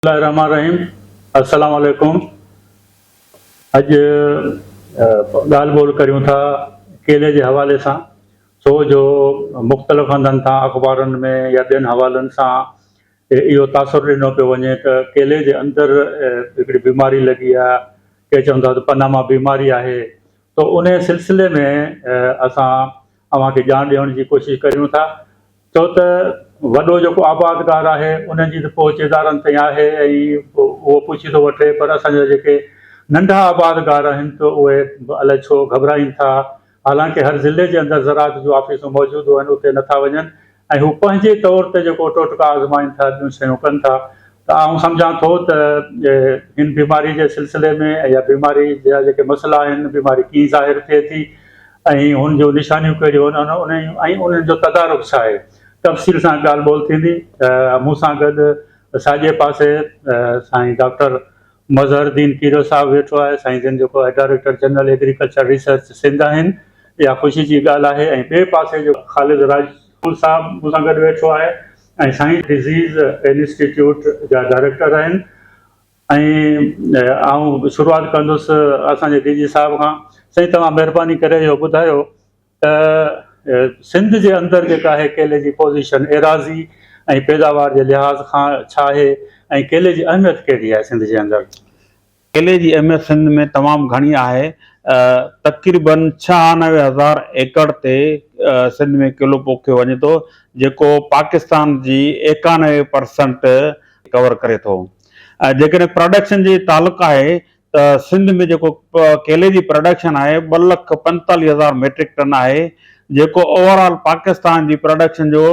الله الرحمٰن الرحيم السلام عليڪم اڄ ڳالهه ٻولهه ڪريون ٿا ڪيلي جي حوالي سان سو جو مختلف هنڌن تان اخبارن ۾ يا ٻين حوالن سان اهو تاثر ڏنو پيو وڃي ته ڪيلي جي اندر هڪڙي بيماري لڳي آهي ڪي چون ٿا ته پناما بيماري آهي ته ان سلسلي ۾ اسان اوهان کي ڄاڻ ڏيڻ جي ڪوشش ڪريون ٿا ڇو ته وڏو جيڪو آبادگار آهي ان جي ته پهچ ادارن تائين آهي ۽ اهو پڇي ٿو وٺي پر اسان جا جيڪي ننڍا آبادگار آهن ته اهي الائي ڇو گهٻرائين ٿا حالانڪه هر ضلعي جي اندر زراعت جون آفيسون موجود هئن اتي نٿا وڃن ۽ هو پنهنجي طور تي جيڪو ٽوٽڪا آزمائين ٿا ٻيون شيون ڪن ٿا ته آئون سمجهان ٿو ته هن بيماري جي سلسلي ۾ يا بيماري جا جيڪي مسئلا آهن، بيماري ڪيئن ظاهر ٿئي ٿي ۽ هن جون نشانيون ڪهڙيون آهن ۽ انهن جو تدارڪ ڇا آهي، تفصيل سان ڳالهه ٻولهه ٿيندي. مون سان گڏ ساڄي پاسي سائين ڊاڪٽر مظهرالدين کيرو صاحب ويٺو آهي، سائين جن جيڪو آهي director general agriculture research Sindh آهن، اها خوشي جي ڳالهه آهي ۽ ٻئي پاسي جيڪو خالد راڄ مون صاحب مون سان گڏ ويٺو آهي ۽ سائين ڊزيز انسٽيٽيوٽ جا ڊائريڪٽر آهن ۽ آئون شروعات ڪندس اسان جي ڊي جي صاحب کان سائين توهان مهرباني ڪري اهو ٻڌايو ته سنڌ جي اندر جيڪا آهي ڪيلي جي پوزيشن ايراضي ۽ پيداوار جي لحاظ کان ڇا آهي ۽ ڪيلي جي اهميت ڪهڙي آهي سنڌ جي اندر. ڪيلي جي اهميت سنڌ ۾ تمام گهڻي آهي. تقريباً ڇهانوي هزار ايڪڙ تي سنڌ ۾ ڪيلو پوکيو وڃي ٿو، جيڪو پاڪستان جي ايڪانوي پرسنٽ ڪور ڪري ٿو. جيڪڏهن پراڊڪشن جي تعلق آهي ته سنڌ ۾ جيڪو ڪيلي جي پراڊڪشن آهي ٻه لک پنجيتاليهه هزار ميٽرڪ ٽن آهي، جيڪو اوورآل پاڪستان جي پراڊڪشن جو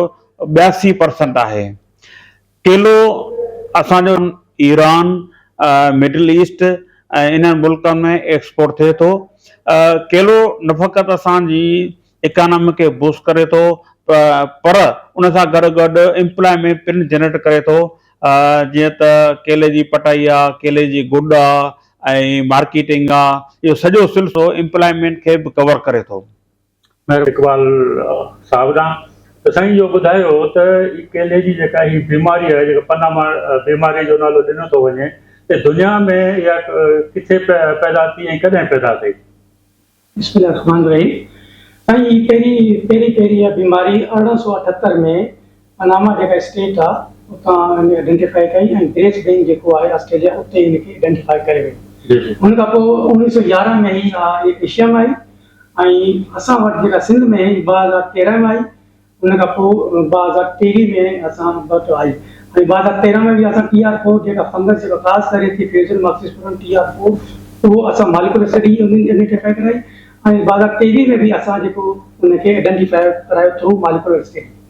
ٻياسي پرسنٽ آهي. ڪيلو اسان جو ايران، مڊل ايسٽ ۽ انهن ملڪن ۾ ايڪسپورٽ ٿئي ٿو. ڪيلو نه فقط اسان جي اڪانامي کي بوسٽ ڪري ٿو پر ان سان گڏ گڏ امپلائمينٽ پڻ جنريٽ ڪري ٿو جيئن ته ڪيلي جي پٽائي آ، ڪيلي جي گڏ آ ۽ مارڪيٽنگ آ اهو سڄو سلسلو امپلائمينٽ کي به ڪور ڪري ٿو. مير اقبال صاحب ڏانهن ته سائين اهو ٻڌايو ته هي ڪيلي جي جيڪا هي بيماري آهي جيڪا پناما بيماري جو نالو ڏنو ٿو وڃي ته دنيا ۾ اها ڪٿي پيدا ٿي ۽ ڪڏهن پيدا ٿي؟ بسم الله الرحمٰن الرحيم سائين هي پهرين پهرين پهرين اها بيماري ارڙهن سؤ اٺهتر ۾ پناما جيڪا اسٽيٽ آ اتان هن ائڊينٽيفائي ڪئي ۽ بريس بين جيڪو آهي آسٽريليا اتي هن کي ائڊينٽيفائي ڪري وئي ان کان پوء اوڻيهه سؤ يارهن ۾ هي آ ايشيا ۾ آئي ۽ اسان وٽ جيڪا سنڌ ۾ هي ٻه هزار تيرهن ۾ آئي ان کان پوء ٻه هزار ٽيويهه ۾ اسان وٽ آئي ۽ ٻه هزار تيرهن ۾ به اسان ٽي آر فور جيڪا فنگس جيڪا خاص ڪري ٿي fusarium oxysporum T R four اهو اسان ماليڪولر اسٽڊي انهن جي ائڊينٽيفائي ڪرائي ۽ ٻه هزار ٽيويهه ۾ به اسان جيڪو ان کي ائڊينٽيفائي ڪرايو ٿرو ماليڪولر اسٽڊي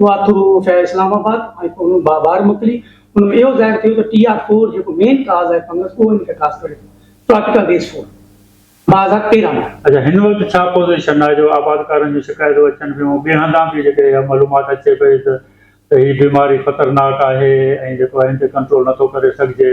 اها ٿرو افيئر اسلام آباد ۽ پوء ان مان ٻاهر موڪلي، ان ۾ اهو ظاهر ٿيو ته ٽي آر فور جيڪو مين ڪاز آهي فنگس اهو ان کي خاص ڪري ٿو، ٽراپيڪل ريس فور، ٻه هزار تيرهن ۾. اچا هن وقت ڇا پوزيشن آهي جو آبادڪارن جون شڪايتون اچن پيون ۽ ٻين هنڌان به جيڪڏهن اها معلومات اچي پئي ته ته هي بيماري خطرناڪ آهي ۽ جيڪو آهي ان تي ڪنٽرول نٿو ڪري سگهجي.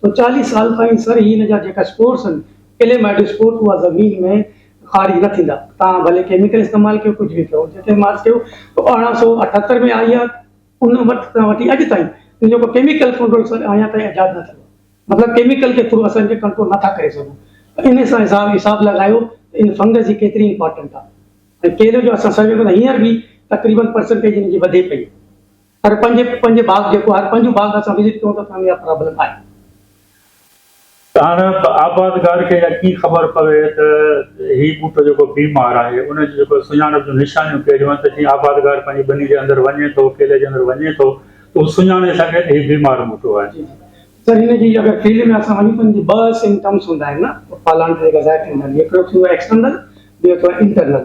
سو چاليهه سال تائين سر هين جا جيڪا اسپورس هن ڪليمائيڊو اسپورٽ اها زمين ۾ خارج نه ٿيندا تان ڀلي ڪيميڪل استعمال ڪيو ڪجهه به ڪيو جتي مارس ڪيو تو ارڙهن سو اٺهتر ۾ آئي آ ان وقت تان وٺي اڄ تائين ان جو ڪو ڪيميڪل ڪنٽرول سر آيا تائين ايجاد نه ٿيو مطلب ڪيميڪل جي ٿرو اسان کي ڪنٽرول نه ٿا ڪري سگهون ته ان سان حساب حساب لڳايو ته ان فنگس جي ڪيتري امپارٽنٽ آ ۽ ڪيلي جو اسان سروي ڪيو ته هينئر به تقريبن پرسنٽيج ان جي وڌي پئي هر پنهنجي پنهنجي باغ جيڪو هر پنهنجو باغ اسان وزٽ ڪيون ته اسانکي اها پرابلم آهي. هاڻ آبادگار کي اها ڪي خبر پوي ته هي ٻوٽو جيڪو بي مار آهي ان جي جيڪو سڃاڻپ جون نشانيون ڪهڙيون آهن ته جيئن آبادگار پنهنجي ٻني جي اندر وڃي ٿو ڪيلي جي اندر وڃي ٿو ته هو سڃاڻي سگهي ته هي بيمار ٻوٽو آهي. جي جي سر هن جي اگر فيلڊ ۾ اسان وڃون ته ان جي ٻه سمپٽمس هوندا آهن نه پالڻ جي جيڪا ظاهر ٿيندا آهن هڪڙو ٿيندو آهي ايڪسٽرنل ٻيو ٿيندو آهي انٽرنل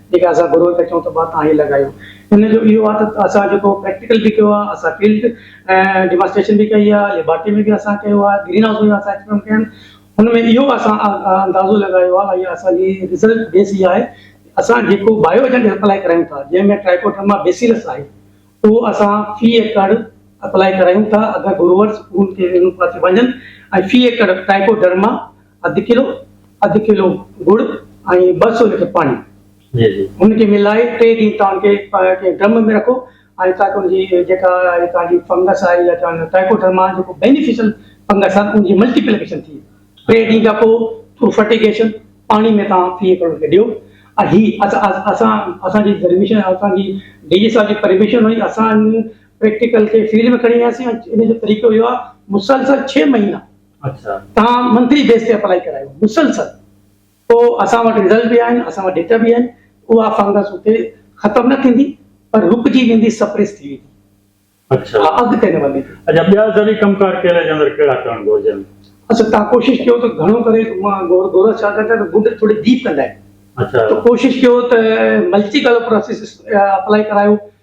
جيڪي اسان گروهه کي چئون ته ڀاء توهان هي لڳايو. ان جو اهو آهي ته اسان جيڪو پريڪٽيڪل به ڪيو آهي، اسان فيلڊ ڊيمانسٽريشن به ڪئي آهي، ليبارٽري ۾ به اسان ڪيو آهي، گرين هائوس ۾ به اسان ايڪسپيرمينٽ ڪيا آهن. ان ۾ اهو اسان اندازو لڳايو آهي ۽ اسان جي رزلٽ بيس اها آهي ته اسان جيڪو بايو ايجنٽ اپلائي ڪرايون ٿا، جنهن ۾ ٽرائيڪوڊرما بيسيلس آهي، اهو اسان في ايڪڙ اپلائي ڪرايون ٿا. اگر گروهرز ان کي ان پاسي وڃن ۽ في ايڪڙ ٽرائيڪوڊرما اڌ ڪلو اڌ ڪلو گڙ ۽ ٻه سو ليٽر پاڻي ان کي ملائي ٽي ڏينهن تان کي ڪنهن ڊرم ۾ رکو ۽ تاڪ ان جي جيڪا تان جي فنگس آهي يا چون ٽائيڪوڊرما جيڪو بينيفيشل فنگس آهي ان جي ملٽيپليڪيشن ٿئي ٽي ڏينهن کان پوء ٿرو فرٽيگيشن پاڻي ۾ تان ٿي ڪرو کي ڏيو ۽ هي اسان اسان جي پرميشن اسان جي ڊي جي صاحب جي پرميشن هئي اسان پريڪٽيڪل کي فيلڊ ۾ کڻي وياسين ان جو طريقو اهو آهي مسلسل ڇهه مهينا توهان منٿلي بيس تي اپلائي ڪرايو مسلسل پوء اسان وٽ رزلٽ به آهن اسان وٽ ڊيٽا به آهن اها فنگس اتي ختم نه ٿيندي پر رڪجي ويندي سپريس ٿي ويندي اها اڳتي نه وڌي. اچا ٻيا زرعي ڪم ڪار ڪيلي جي اندر ڪهڙا ڪرڻ گهرجن؟ اسان تان ڪوشش ڪيو ته گهڻو ڪري مان گورس ڇا ڪرڻ چاهيان ته گڊ ٿوري ڊيپ ڪندا آهن ته ڪوشش ڪيو ته ملٽي ڪلر پروسيس اپلائي ڪرايو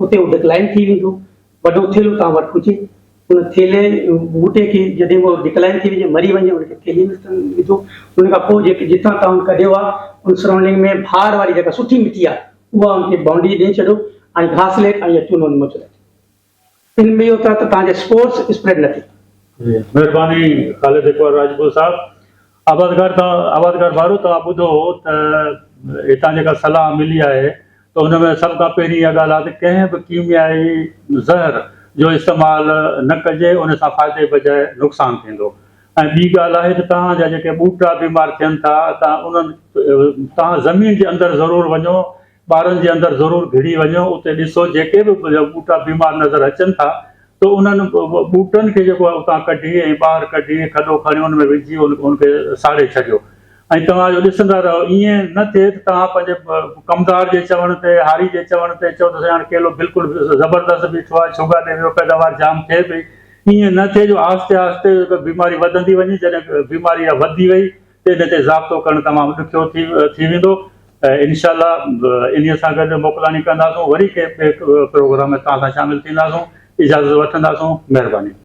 اتي هو ڊڪلائن ٿي ويندو. وڏو ٿيلهو توهان وٽ هجي. ان ٿيلهي ٻوٽي کي جڏهن به ڊڪلائن ٿي وڃي، مري وڃي، ان کي ٿيلهي ۾ سٽڻ وجهو. ان کان پوء جيڪي جتان توهان ڪڍيو آهي، ان سرائونڊنگ ۾ ڀار واري جيڪا سٺي مٽي آهي، اها ان کي بائونڊري ڏئي ڇڏيو ۽ گهاس ليٽ ۽ يا چونو نمو چلائي ڇڏيو. ان ۾ اهو ٿئي ته توهان جا اسپورز اسپريڊ نه ٿيندا. مهرباني خالد اقبال راڄپور صاحب. آبادگار تان آبادگار وارو توهان ٻڌو ته هتان جيڪا صلاح ملي آهي ته ان ۾ سڀ کان پهرين اها ڳالهه آهي ته ڪنهن به ڪيميائي زهر جو استعمال نه ڪجي ان سان فائدي بجاء نقصان ٿيندو ۽ ٻي ڳالهه آهي ته توهان جا جيڪي ٻوٽا بيمار ٿين ٿا ته انهن توهان زمين جي اندر ضرور وڃو ٻارن جي اندر ضرور گهڙي وڃو اتي ڏسو جيڪي به ٻوٽا بيمار نظر اچن ٿا ته انهن ٻوٽن کي جيڪو آهي اتان ڪڍي ۽ ٻاهر ڪڍي کڏو کڻي ان ۾ وجهي ان کي ساڙي ڇڏيو ۽ توهان اهو ڏسندا رهو ائين نه ٿئي ته توهان پنهنجي ڪمدار جي چوڻ تي هاري جي چوڻ تي چئو ته سائين هاڻي ڪيلو بلڪل زبردست بيٺو آهي ڇوگا ڏي ويو پيداوار جام ٿئي پئي ائين نه ٿئي جو آهستي آهستي بيماري وڌندي وڃي جڏهن بيماري اها وڌي وئي ان تي ضابطو ڪرڻ تمام ڏکيو ٿي ويندو انشاء الله انهي سان گڏ موڪلاڻي ڪنداسون وري ڪنهن ٻئي پروگرام ۾ توهان سان شامل ٿينداسون اجازت وٺنداسون مهرباني.